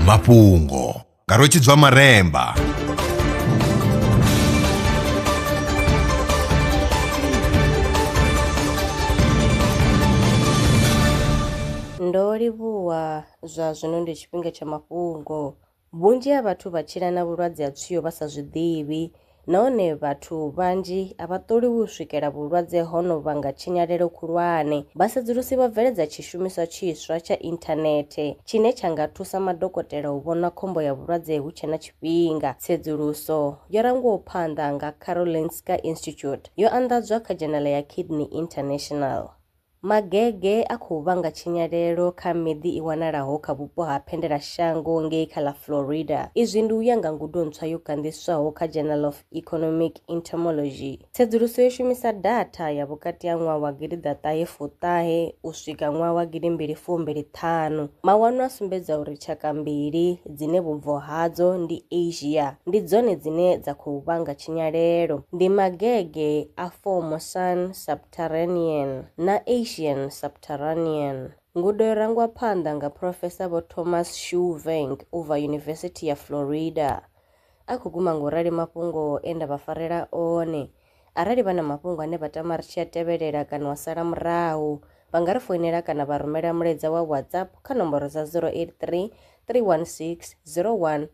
mafhungo nga rwetshidzwa maremba Ndo livhuwa, zwa zwino ndi tshifhinga tsha mafhungo. Vhunzhi ha vhathu vha tshila na vhulwadze ha tswio vha sa zwi ḓivhi, nahone vhathu vhanzhi a vha ṱoliwi u swikela vhulwadze ho no vhanga tshinyalelo khulwane. Vhasedzulusi vho bveledza tshishumiswa tshiswa tsha inthanethe tshine tsha nga thusa madokotela u vhona khombo ya vhulwadze hu tshe na tshifhinga. Tsedzuluso yo rangwaho phanḓa nga Karolinska Institute yo anḓadzwa kha dzhenala ya Kidney International. Magege a khou vhanga tshinyalelo kha miḓi i wanalaho kha vhupo ha Phendelashango ngei kha ḽa Florida. Izwi ndi u ya nga ngudo ntswa yo ganḓiswaho kha Journal of Economic Entomology. Tsedzuluso yo shumisa datha ya vhukati ha ṅwaha wa gidi ḓa ṱahe fuṱahe u swika ṅwaha wa gidi mbili fumbili ṱhanu. Mawanwa a sumbedza uri tshaka mbili dzine vhubvo hadzo ndi Asia ndi dzone dzine dza khou vhanga tshinyalelo, ndi magege a Formosan sub Mediterranean na Asian Subterranean. Ngudo yo rangwa phanḓa nga Phurofesa Vho Thomas Schulvenk u bva Yunivesithi ya Florida. A khou guma nga u rali mafhungo e nda vha farela one. Arali vha na mafhungo ane vha tama ri tshi a tevhelela kana wa sala murahu, vha nga ri foinela kana vha rumela mulaedza wa WhatsApp kha nomboro dza 083 316 01